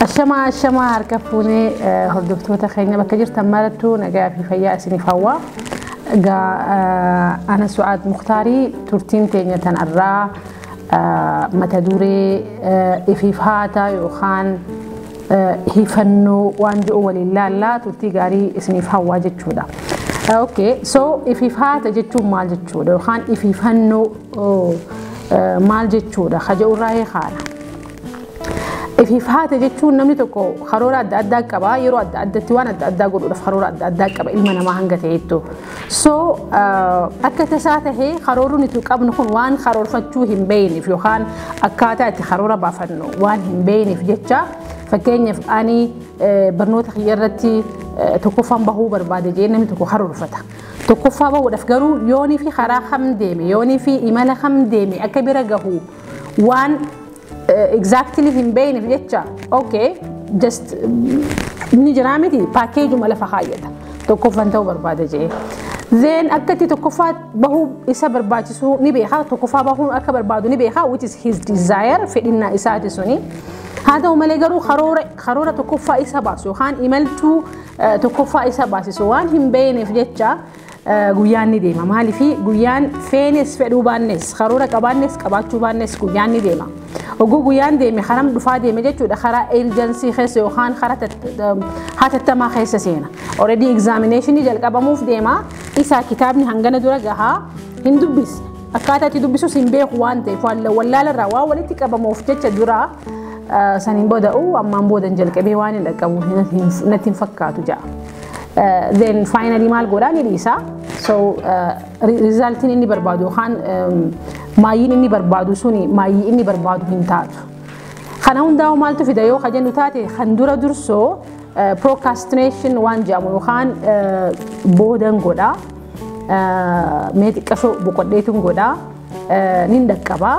Ashamaa ashamaa harka fuunee eh, hordoftoota keenya bakka jirtan marattuu nagaa fi fayyaa isiniif hawwa. Egaa eh, ana Su'aad Muktaarii turtiin teenya tan irraa eh, mata duree eh, ifiif haata yookaan eh, hifannoo waan jiru waliin laallaa turtii gaarii isiniif hawwaa jechuudha. Eh, Okay, so ifiif haata jechuun maal jechuudha yookaan ifiifannoo oh, eh, maal jechuudha? Haja'urraa hee haala. Ifiif haate jechuun namni tokko karoora adda addaa qaba yeroo adda addatti waan adda addaa godhuudhaaf karoora adda addaa qaba ilma namaa hanga ta'eettu. So akka tasaa tahee karoorri nuti qabnu kun waan karoorfachuu hin beeyneef yookaan akkaataa itti karoora baafannu waan hin beeyneef jecha fakkeenyaaf ani barnoota kiyya irratti tokkoffaan bahuu barbaade jee namni tokko karoorfata. Tokkoffaa bahuudhaaf garuu yoonii fi karaa kam deeme yoonii fi imala kam deeme akka bira gahu waan exactly hin beekneef jecha okay just ni jiraa miti paakeejuma lafa kaayyata tokkoffan ta'uu barbaada jedhee. Then akka itti tokkoffaa bahuu isa barbaachisuu ni beekaa tokkoffaa bahuu akka barbaadu ni beekaa which is his desire fedhinnaa isaati suni. Haa ta'u malee garuu karoora karoora tokkoffaa isa baasu yookaan imaltuu eh, tokkoffaa isa baasisu waan hin beekneef jecha Guyyaan ni deema. Maaliif guyyaan feenes fedhuu baannes karoora qabaannes qabaachuu baannes guyyaan ni deema. Oguu guyyaan deeme karam dhufaa deeme jechuudha karaa emerjensii keessa yookaan karaa hatattamaa keessa seena. Already examination jalqabamuuf deema. Isaa kitaabni hangana dura gahaa hin dubbisne. Akkaataa itti dubbisus hin beeku waan ta'eef wallaalarraa waan walitti qabamuuf jecha duraa saniin booda'u ammaan boodan jalqabee waan hin dhaqqabu natti hin fakkaatu ja'a. then finally maal godhaa ni dhiisa so rizaaltiin inni barbaadu yookaan maayiin inni barbaadu suni maayii inni barbaadu hin taatu kana hundaa'u maaltu fida yoo kajennu taate kan dura dursoo procrastination waan jedhamu yookaan boodan godha mee xiqqashoo boqodheetun godha nin dhaqqabaa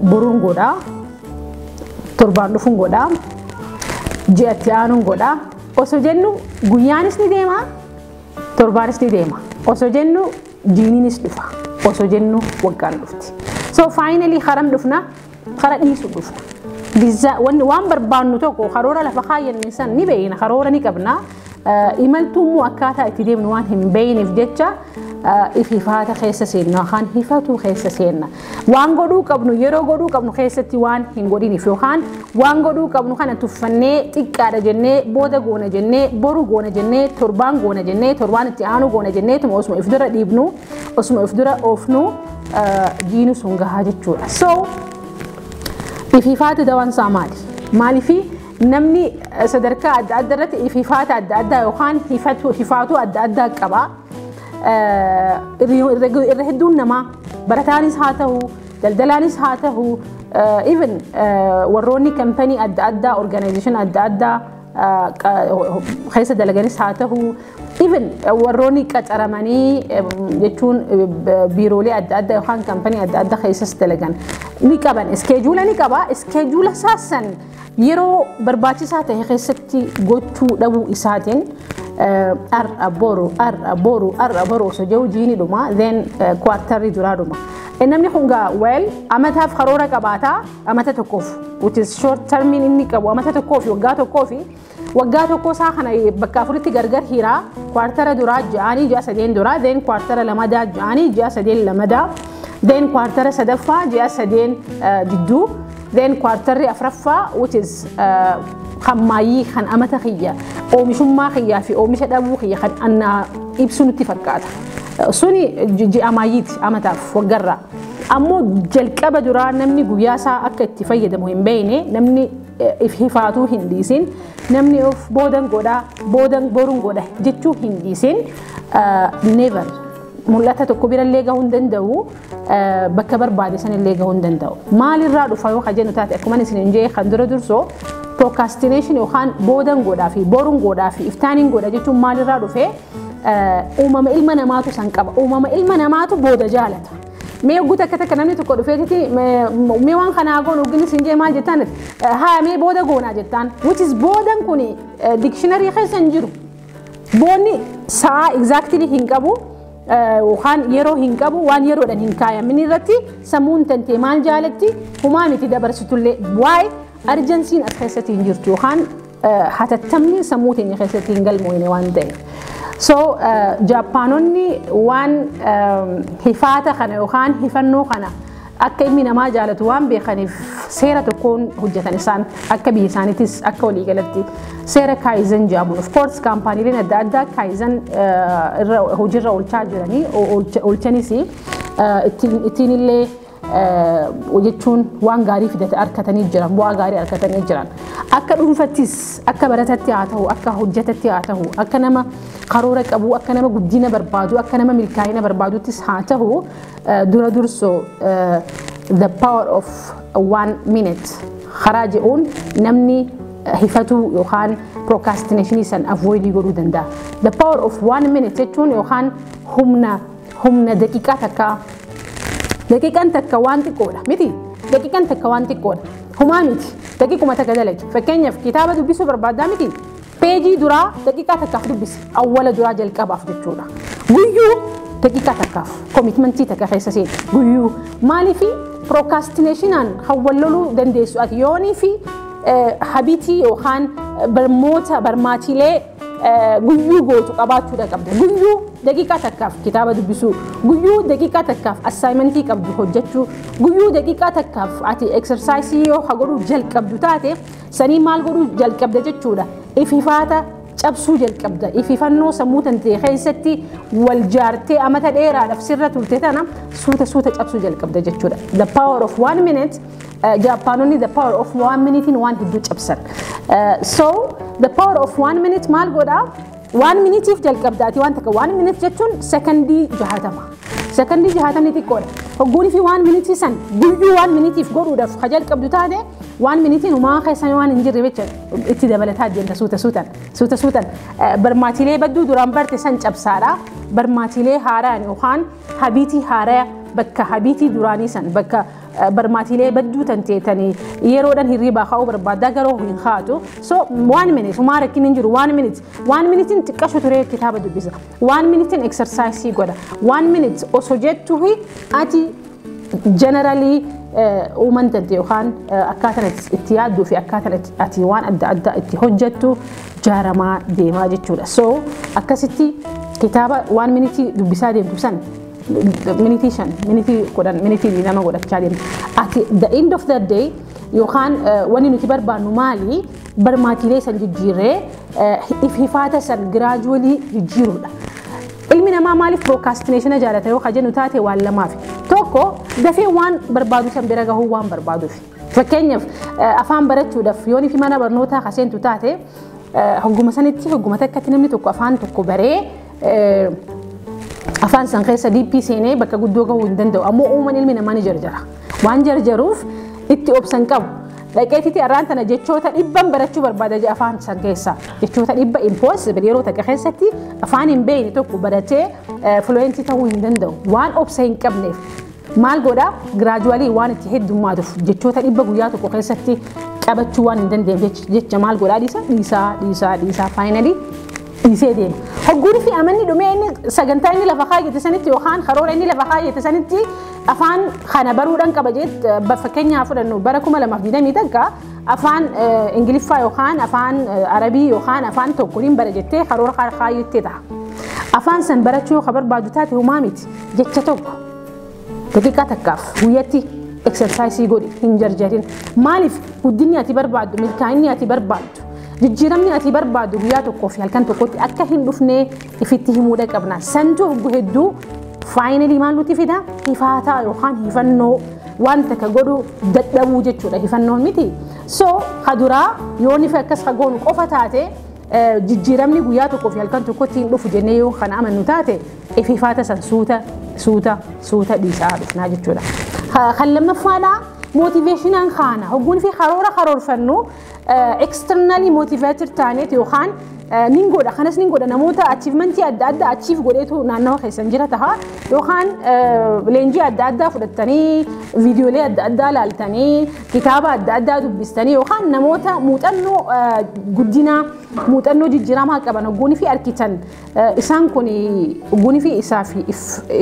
Boruun godhaa. Torbaan dhufuun godhaa. Ji'a itti aanuun godhaa. Osoo jennu guyyaanis ni deema. Torbaanis ni deema. Osoo jennu jiiniinis dhufa. Osoo jennu waggaan dhufti. So faayinalii haram dhufna hara dhiisu dhufna. Waan barbaannu tokko karoora lafa kaayyanne san ni beekna karoora ni qabna. Imaltuu immoo akkaataa itti deemnu waan hin beeyneef jecha ififaata keessa seenna yookaan hifatuu keessa seenna. Waan godhuu qabnu yeroo godhuu qabnu keessatti waan hin godhiniif yookaan waan godhuu qabnu kana tuffannee xiqqaadha jennee booda goona jennee boru goona jennee torbaan goona jennee torbaan itti aanu goona jennee tuma osuma if dura dhiibnu osuma if dura oofnu jiinu sun gahaa jechuudha. So ififaati dawaan isaa maali? Maaliifii? Namni sadarkaa adda addaa irratti hifaata adda addaa yookaan hifaatuu adda addaa qaba. Irra hedduun namaa barataanis haa ta'u, daldalaanis haa ta'u, even warroonni kampanii adda addaa, organization adda addaa keessa dalaganis haa ta'u, even warroonni qacaramanii jechuun biiroolee adda addaa yookaan kampanii adda addaa keessas dalagan ni qaban. Iskeejuula ni qaba. Iskeejuula saasan Yeroo barbaachisaa ta'e keessatti gochuu dhabuu isaatiin har'a boru har'a boru har'a boru osoo jiru jiini dhuma then kuwaartarri duraa dhuma. Namni kun gaa well amataaf karoora qabaata amata tokkoof which is short termiin inni qabu amata tokkoof waggaa tokkoof Waggaa tokkoo isaa kana bakka afuritti gargar hiiraa kwaartara duraa ja'aanii ji'a sadeen duraa deen kwaartara lamadaa ja'aanii ji'a sadeen lamadaa deen kwaartara sadaffaa ji'a sadeen jidduu deen kwaartarri afraffaa which is kan maayyii kan amata kiyya oomishummaa kiyyaa fi oomisha dhabuu kiyya kan annaa ibsu nutti fakkaata. Suni ji'a maayyiiti amataaf waggarraa. Ammoo jalqaba duraa namni guyyaa isaa akka itti fayyadamu hin beekne namni if hifaatuu hin dhiisin namni of boodan godha boodan boruun godha jechuu hin dhiisin never mul'ata tokko birallee gahuu hin danda'u bakka barbaade sanillee gahuu hin danda'u maalirraa dhufa yoo ka jennu taate akkuma isin hin jee kan dura dursoo procrastination yookaan boodan godhaa fi boruun godhaa fi iftaaniin godha jechuun maalirraa dhufee uumama ilma namaatu san qaba uumama ilma namaatu booda jaalata mee hogguu takka takka namni tokko dhufeetiti mee waan kana haa goonu hoggin isin jee maal jettaan haa mee booda goonaa jettaan which is boodan kun dikshinarii keessa hin jiru boonni sa'a exactly hin qabu yookaan yeroo hin qabu waan yeroodhaan hin kaayamin irratti sammuun tantee maal jaalatti humaa miti dabarsitullee waa'ee Arjansiin as keessatti hin jirtu yookaan hatattamni sammuu teenya keessatti hin galmoofne waan ta'eef. So Jaappaanonni waan hifaata kana yookaan hifannoo kana akka ilmi namaa jaalatu waan beekaniif seera tokkoon hojjetan isaan akka biyya isaaniitis akka waliigalatti seera kaayizen jedhamuun of course kaampaaniileen adda addaa kaayizen irra hojiirra oolchaa jiranii oolchanis ittiin illee jechuun waan gaarii fidate arkatanii jiran bu'aa gaarii arkatanii jiran akka dhuunfattis akka baratatti haa ta'u akka hojjetatti haa ta'u akka nama karoora qabu akka nama guddina barbaadu akka nama milkaa'ina barbaaduttis haa ta'u dura dursoo the power of one minute karaa jedhuun namni hifatuu yookaan procrastination san avoid godhuu danda'a the power of one minute jechuun yookaan humna humna daqiiqaa takkaa daqiiqan takka waan xiqqoodha miti daqiiqan takka waan xiqqoodha humaa miti daqiiquma takka dalagi fakkeenyaaf kitaaba dubbisuu barbaaddaa miti peejii duraa daqiiqaa takkaaf dubbisi awwala duraa jalqabaaf jechuudha guyyuu daqiiqaa takkaaf koomitmentii takka keessa seeni guyyuu maaliifi pirookastineeshinaan hawwalloluu dandeessu ati yoonii fi habitii yookaan barmoota barmaatiilee guyyuu gootu qabaachuudha qabda. Guyyuu daqiiqaa takkaaf kitaaba dubbisuu, guyyuu daqiiqaa takkaaf assaayimentii qabdu hojjechuu, guyyuu daqiiqaa takkaaf ati eksarsaayisii yoo ha godhuu jalqabdu taate sanii maal godhuu jalqabda jechuudha. Ififaata cabsuu jalqabda. Ififannoo sammuu tantee keessatti wal jaartee amata dheeraadhaaf sirra turte tana suuta suuta cabsuu jalqabda jechuudha. The power of one minute Jaappaanonni the power of one minute waan hedduu cabsan. So the power of one minute maal godha? One minutiif jalqabda ati waan takka one minute jechuun sekondii jahatama. Sekondii jahatamni xiqqoodha. Hogguun fi one minute san guyyuu one minutiif godhuudhaaf ka jalqabdu taate one minute umaa keessan waan hin jirre jecha itti dabalataa deemta suuta suutan suuta suutan barmaatilee badduu duraan barte san cabsaadha. Barmaatilee haaraan yookaan habiitii haaraya bakka habiitii duraanii san bakka barmaatiilee badduu tan teetanii yeroodhaan hirriibaa ka'uu barbaaddaa garuu hin haatu so one minute humaa rakkin hin jiru one minute one minutein xiqqashu turee kitaaba dubbisa one minutein exersaayisii godha one minute osoo jettuhi ati generalii uuman tante yookaan akkaataan itti yaadduu fi akkaataan ati waan adda addaa itti hojjettu jaaramaa deemaa jechuudha so akkasitti kitaaba waan minitii dubbisaa deemtu san minitii shan minitii kudhan minitii lama godhachaa deemna at the end of the day yookaan wanni nuti barbaannu maali barmaatiilee san jijjiirree if hifaata san giraajuwalii jijjiiruudha. Ilmi namaa maaliif pirookaastineshina jaalata yoo ka jennu taate waan lamaaf tokko dafee waan barbaadu san bira gahuu waan barbaaduuf fakkeenyaaf afaan barachuudhaaf yoon fi mana barnootaa ka seentu taate hogguma sanitti hogguma takkatti namni tokko afaan tokko baree afaan san keessa diippii seenee bakka guddoo gahuu hin danda'u ammoo uuman ilmi namaa ni jarjara waan jarjaruuf itti obsan qabu dhaqeetiti arraan tana jechoota dhibban barachuu barbaada je afaan san keessa jechoota dhibba impossible yeroo takka keessatti afaan hin beekne tokko baratee fluentii ta'uu hin danda'u waan obsa hin qabneef Maal godha? Gradually waan itti heddummaatuuf jechoota dhibba guyyaa tokko keessatti qabachuu waan hin dandeenyeef jecha maal godhaa dhiisa? Dhiisaa, dhiisaa, dhiisaa finally dhiisee deema. Hogguun fi amanni dhumee inni sagantaa inni lafa kaayyate sanitti yookaan karoora inni lafa kaayyate sanitti afaan kana baruudhaan qaba jeet fakkeenyaa fudhannu bara 2020 takka afaan Ingiliffaa yookaan afaan Arabii yookaan afaan tokko hin bara jettee karoora kaayyattee ta'a. Afaan san barachuu ka barbaadu taate humaa miti jecha tokko. Daqiiqaa takkaaf guyyatti eksarsaayisii godhi hin jarjarin. Maaliif guddinni ati barbaaddu milkaa'inni ati barbaaddu jijjiiramni ati barbaaddu guyyaa tokkoo fi halkan tokkotti akka hin dhufnee ifitti himuudha qabna. Santu oggu hedduu faayinalii maal nuti fida hifaataa yookaan hifannoo waan takka godhu dadhabuu jechuudha hifannoon miti. So haduraa yoo nifi akkas hagoonu qofa taate jijjiiramni guyyaa tokkoo fi halkan tokkotti hin dhufu jennee yoo kana amannu taate Ififaata san suuta suuta suuta dhiisaa dhufnaa jechuudha. Ha- Kan lammaffaadhaa mootiveeshinaan kaana hogguun fi karoora karoorfannu externally motivated taaneet yookaan eh, nin godha kanas nin godha namoota achievementii adda addaa achiif godheetu naannawa keessan jira taha yookaan eh, leenjii adda addaa fudhattanii viidiyoolee adda addaa laaltanii kitaaba adda addaa dubbistanii yookaan namoota muuxannoo eh, guddinaa muuxannoo jijjiiramaa qaban hogguun fi arkitan Isaan kun gunifii isaa fi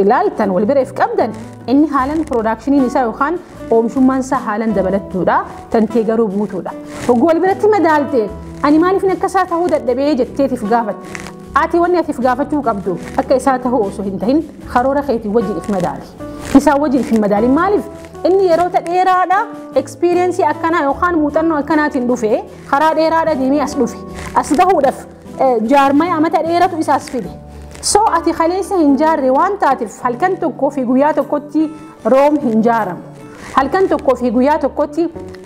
ilaaltan wal bira if qabdan inni haalan piroodaakshiniin isaa yookaan oomishummaan isaa haalan dabalattuudha tan tee garuu buutuudha. Hogguu wal biratti madaalte ani maaliif akka isaa ta'uu dadhabee jetteetiif gaafate. Ati wanni atiif gaafachuu qabdu akka isaa ta'uu osoo hin tahin karoora keetii wajjin if madaali. Isaa wajjin if hin madaali maaliif? Inni yeroota dheeraadha ekspiriyeensii akkanaa yookaan muuxannoo akkanaatiin dhufe karaa dheeraadha deemee as dhufe. As gahuudhaaf jaarmaya amata dheeratu isaas fide. So ati kaleessa hin jaarre waan taateef halkan tokkoo fi guyyaa tokkotti Room hin jaaramu. Halkan tokkoo fi guyyaa tokkotti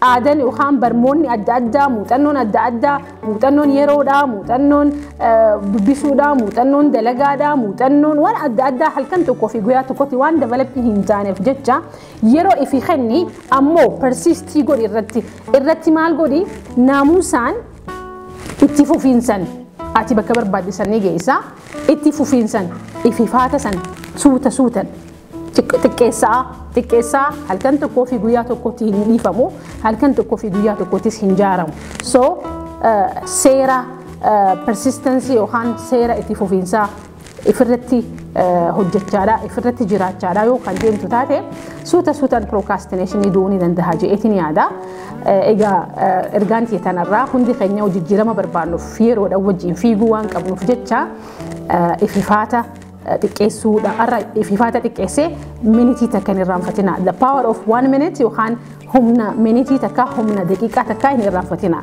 aadan yookaan barmoonni adda addaa, muuxannoon adda addaa, muuxannoon yeroodhaa, muuxannoon dubbisuudhaa, muuxannoon dalagaadhaa, muuxannoon waan adda addaa halkan tokkoo fi guyyaa tokkotti waan dabalatti hin taaneef jecha yeroo ifi kenni ammoo persistii godhi irratti. Irratti maal godhi naamuusaan Itti fufiinsan ati bakka barbaadde san ni geessa. Itti fufiinsan ififaata san suuta suutan xiqqeessaa xiqqeessaa halkan tokkoo fi guyyaa tokkotti hin dhiifamu halkan tokkoo fi guyyaa tokkottis hin jaaramu. So seera persistensi yookaan seera itti fufiinsaa ifirratti hojjechaadha ifirratti jiraachaadha yoo kan deemtu taate suuta suutaan pirookastineeshinii du'uu ni danda'a je'eetiin yaada. Egaa ergaan kee tanarraa hundi keenya jijjiirama barbaannuuf yeroodhaan wajjin fiiguu waan qabnuuf jecha ififaata xiqqeessuudha. Har'a ififaata xiqqeessee minitii takka hin irraanfatina. The power of one minute yookaan humna minitii takka humna daqiiqaa takka hin irraanfatina.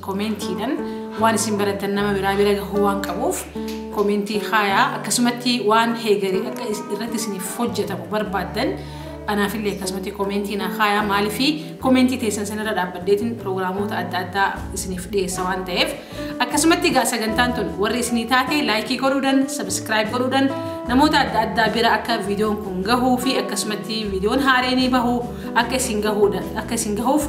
Komeentiidhan waan isin barattan nama biraa bira gahuu waan qabuuf komeentii kaayaa akkasumatti waan heegarii akka is- irratti isiniif hojjetamu barbaaddan anaafillee akkasumatti komeentii naa kaayaa maaliifi komeentii teessan sanirra dhaabbadheetiin pirogiraamoota adda addaa isiniif dhiyeessa waan ta'eef akkasumatti egaa sagantaan tun warri isinii taate laayikii godhuudhan sabiskiraayib godhuudhan namoota adda addaa bira akka viidiyoon kun gahuu fi akkasumatti viidiyoon haareenii bahu akka isin gahuudha akka isin gahuuf